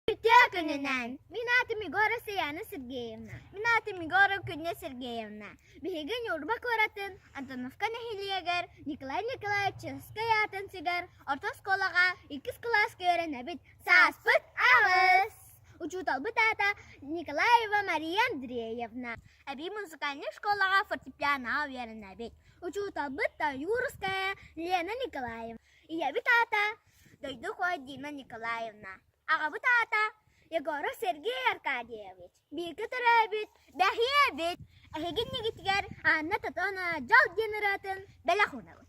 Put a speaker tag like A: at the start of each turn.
A: Бүтүө күнүнэн мин аатым Егора Саяна Сергеевна. Мин аатым Егора Күннэ Сергеевна. Биһиги Ньурба куоратын Антоновка нэһилиэгэр Николай Николаевич Чыгыскай аатын сигэр орто оскуолаҕа иккис кылааска үөрэнэбит. Сааспыт аҕыс! Учууталбыт аата Николаева Мария Андреевна. Эбии музыкальнай школаҕа фортепианоҕа үөрэнэбит. Учууталбыт Таюрская Лена Николаевна. Ийэбит аата дойдукуой Дима Николаевна, аҕабыт аата Егоров Сергей Аркадьевич, бииргэ төрөөбүт бэһиэбит, эһигин ньигитигэр Анна Тотону дьол диэн ырыатын бэлэх уунабыт.